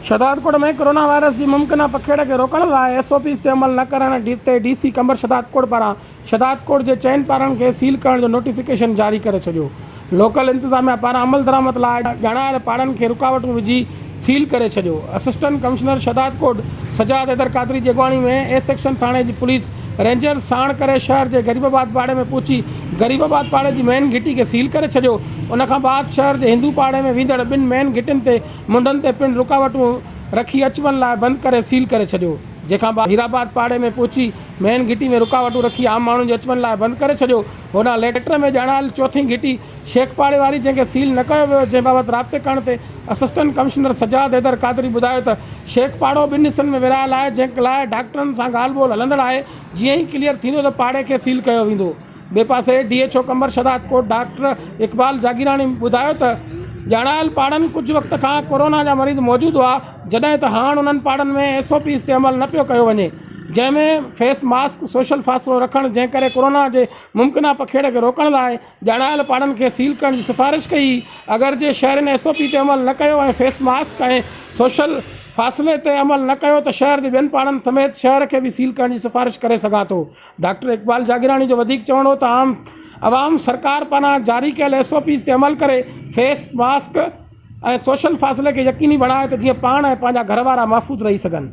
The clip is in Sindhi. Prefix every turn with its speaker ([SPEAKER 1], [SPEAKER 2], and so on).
[SPEAKER 1] شھدادڪوٽ ۾ ڪورونا وائرس جي ممڪنه پکيڙ کي روڪڻ لاء ايس او پيز تي عمل نه ڪرڻ تي ڊي سي قمبر شھدادڪوٽ پاران شھدادڪوٽ جي چئن پارن کي سيل ڪرڻ جو نوٽيفڪيشن جاري ڪري ڇڏيو لوڪل انتظاميا پاران عملدرآمد لاء ڄاڻايل پاڙن کي رڪاوٽون وجهي سيل ڪري ڇڏيو. اسسٽنٽ ڪمشنر شھداد ڪوٽ سجاد حيدر قادري جي اڳواڻي ۾ اي سيڪشن ٿاڻي جي پوليس رينجرز ساڻ ڪري شھر جي غريب آباد پاڙي ۾ پھچي غريب آباد پاڙي جي مين گھٽي کي سيل ڪري ڇڏيو ان کان بعد شھر جي ھندو پاڙي ۾ ويندڙ ٻن مين گھٽين تي منڍن تي پڻ رڪاوٽون رکي اچ وڃ لاء بند ڪري سيل ڪري ڇڏيو جنهن کان بعد ھيرآباد پاڙي ۾ پھچي مين گھٽي ۾ رڪاوٽون رکي عام ماڻھن جي اچ وڃ لاء بند ڪري ڇڏيو ھوڏانهن ليٽر ۾ ڄاڻايل چوٿين گھٽي شيخ پاڙي واري جنهن کي سيل نه ڪيو ويو جنهن بابت رابطي ڪرڻ تي اسسٽنٽ ڪمشنر سجاد حيدر قادري ٻڌايو ته شيخ پاڙو ٻن حصن ۾ ورهايل آهي جنهن لاء ڊاڪٽرن سان ڳالهه ٻولهه هلندڙ آهي جيئن ئي ڪليئر ٿيندو ته پاڙي کي سيل ڪيو ويندو ٻئي پاسي D H O Qambar Shahdad Kot doctor Iqbal Jagirani ٻڌايو ته ڄاڻايل پاڙن ڪجهه وقت کان ڪورونا جا مريض موجود هئا جڏهن ته هاڻ انهن پاڙن ۾ ايس او پيز تي عمل نه پيو ڪيو وڃي جنهن ۾ فيس ماسڪ سوشل فاصلو رکڻ جنهن ڪري ڪورونا جي ممڪنه پکيڙ کي روڪڻ لاء ڄاڻايل پاڙن کي سيل ڪرڻ جي سفارش ڪئي، اگرچه شهرين ايس او پي تي عمل نه ڪيو ۽ فيس ماسڪ ۽ سوشل فاصلي تي عمل نه ڪيو ته شهر جي ٻين پاڙن سميت شهر کي به سيل ڪرڻ جي سفارش ڪري سگهان ٿو. ڊاڪٽر اقبال جاگيراڻي جو وڌيڪ چوڻ هو ته عام عوام سرڪار پاران جاري ڪيل ايس او پيز تي عمل ڪري فيس ماسڪ ۽ سوشل فاصلي کي يقيني بڻائي ته جيئن پاڻ ۽ پنهنجا گهر وارا محفوظ رهي سگهن.